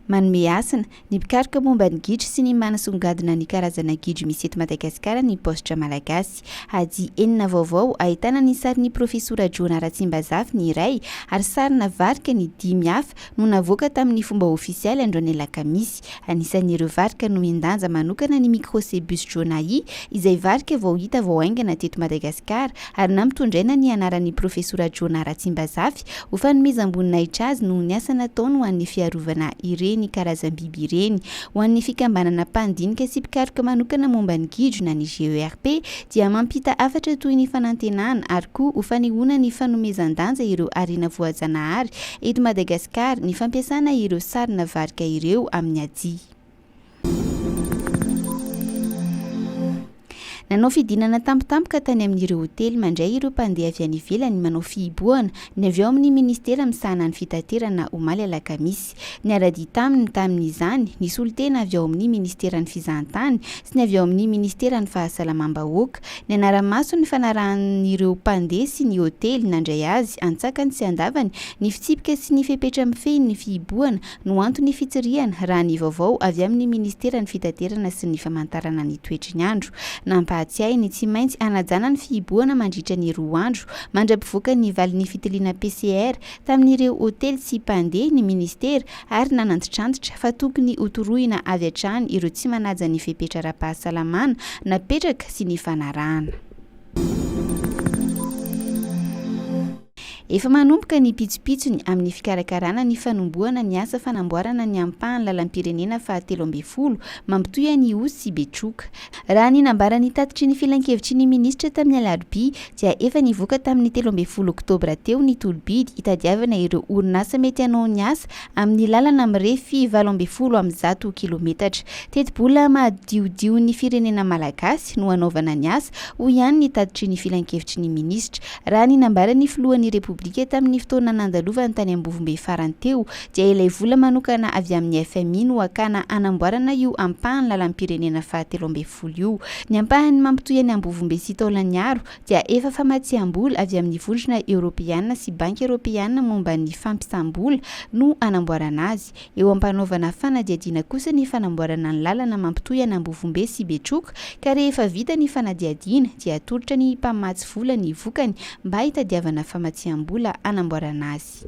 Manome hasina, ny mpikaroka momba ny gidro sy ny manasongadina ny karazana gidro misy eto Madagasikara ny Paositra Malagasy. Ady enina vaovao ahitana ny sarin'ny Profesora Jona Ratsimbazafy ny iray ary sarina varika ny dimy hafa no navoaka tamin'ny fomba ofisialy andro an'Alakamisy. Anisan'ireo varika nomen-danja manokana ny Microcebus jonai izay varika vao hita vao haingana teto Madagasikara ary nampitondraina ny anaran'ny Profesora Jona Ratsimbazafy Ho fanomezam-boninahitra azy noho ny asa nataony ho an'ny fiarovana ireny karazam-biby ireny. Ho an'ny Fikambanana Mpandinika sy Mpikaroka Manokana Momba ny Gidro na ny GERP dia mampita hafatra toy ny fanantenana ary koa ho fanehoana ny fanomezan-danja ireo harena voajanahary eto Madagasikara ny fampiasana ireo sarina varika ireo amin'ny adia Nanao fidinana tampotampoka tany amin'ireo hotely mandray ireo mpandeha avy any ivelany manao fihibohana ny avy ao amin'ny minisitera misahana ny fitaterana omaly alakamisy. Niara-dia taminy tamin'izany ny solontena avy ao amin'ny minisiteran'ny fizahantany sy ny avy ao amin'ny minisiteran'ny fahasalamam-bahoaka. Nianara-maso ny fanarahan'ireo mpandeha sy ny hotely nandray azy antsakany sy andavany ny fitsipika sy ny fepetra mifehy ny fihibohana no anton'ny fitsirihana, raha ny vaovao avy amin'ny Ministeran'ny Fitaterana sy ny Famantarana ny Toetry ny Andro. Nampahatsiahy ny tsy maintsy hanajana ny fihibohana mandritra ny roa andro mandra-pivoaka ny valin'ny fitiliana PCR tamin'ireo hotely sy mpandeha ny Ministera ary nanantitrantitra fa tokony hotorohina avy hatrany ireo tsy manaja ny fepetra ara-pahasalamana napetraka sy ny fanarahana Efa manomboka ny pitsopitsony amin'ny fikarakarana ny fanombohana ny asa fanamboarana ny ampahan'ny lalam-pirenena fahatelo ambin'ny folo mampitohy an'i Ihosy sy Betroka. Raha ny nambaran'ny tatitry ny filankevitry ny minisitra tamin'ny alarobia dia efa nivoaka tamin'ny telo ambin'ny folo oktobra teo ny tolo-bidy hitadiavana ireo orinasa mety hanao ny asa amin'ny lalana mirefy valo ambin'ny folo amby zato kilometatra. Tetibola mahadiodion'ny firenena malagasy no hanaovana ny asa, hoy ihany ny tatitry ny filankevitry ny minisitra. Raha ny nambaran'ny filohan'ny Repoblika tamin'ny fotoana nandalovany tany Ambovombe farany teo dia ilay vola manokana avy amin'ny fmi no hakana hanamboarana io ampahan'ny lalam-pirenena fahatelo ambin'ny folo io. Ny ampahany mampitohy an'i Ambovombe sy Taolagnaro dia efa famatsiam-bola avy amin'ny Vondrona Eoropeana sy Banky Eoropeana momba ny Fampisam-bola no hanamboarana azy. Eo am-panaovana fanadihadiana kosa ny fanamboarana ny lalana mampitohy an'Ambovombe sy Betroka ka rehefa vita ny fanadihadiana dia atolotra ny mpamatsy vola ny vokany mba hitadiavana famatsiam-bola hanamboarana azy.